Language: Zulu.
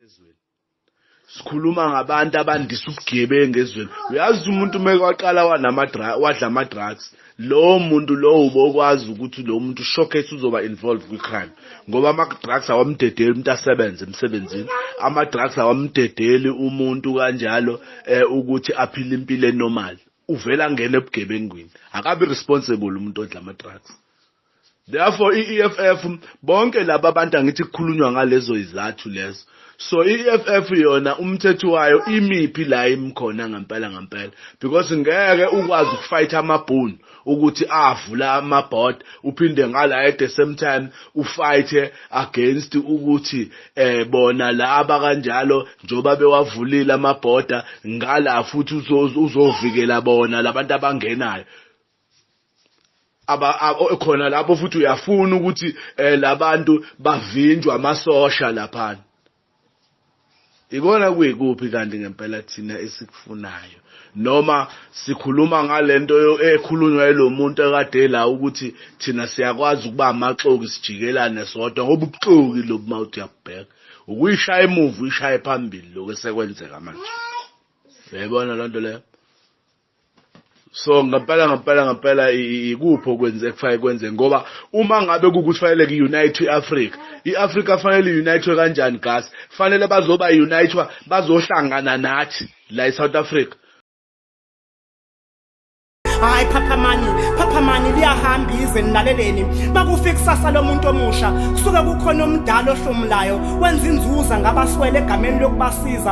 ezweni sikhuluma ngabantu abandisa ubugebengu ezweni uyazi umuntu uma kwaqala wadla ama-drugs lowo muntu lowo ubokwazi ukuthi lowo muntu showcase uzoba involved kwi-crime ngoba ama-drugs awamdedeli umuntu asebenze emsebenzini ama-drugs awamdedeli umuntu kanjalo um ukuthi aphile impilo enormal uvele angene ebugebengwini akabi responsible umuntu odla ama-drugs Therefore i-EFF bonke laba abantu angithi kukhulunywa ngalezo izathu lezo. So i-EFF yona umthetho wayo imiphi la imkhona ngempela ngempela because ngeke ukwazi ukufight amabhunu ukuthi avula ama board uphinde ngala at the same time ufight against ukuthi eh bona laba kanjalo njoba bewavulile ama border ngala futhi uzovikela bona labantu abangenayo khona lapho futhi uyafuna ukuthi eh, labantu bavinjwe amasosha laphana ikona kuyikuphi kanti ngempela thina esikufunayo noma sikhuluma ngalento ekhulunywa elomuntu ekade la ukuthi thina siyakwazi ukuba amaxoki sijikelane sodwa ngoba ubuxoki lobu mawuthi uyabheka ukuyishaya emuva uyishaye phambili lokho esekwenzeka manje uyayibona lonto leyo so ngempela ngempela ngempela ikuphi okwenze kufanele kwenze ngoba uma ngabe kukuthi fanele ku-unite i-afrika i-afrika fanele i-unitwe kanjani gas fanele bazoba unitwa bazohlangana nathi la e-south africa hayi phaphamani phaphamani liyahamba izwe nilaleleni makufika ikusasa lomuntu omusha kusuke kukhona omdala ohlomulayo wenza inzuza ngabaswele egameni lokubasiza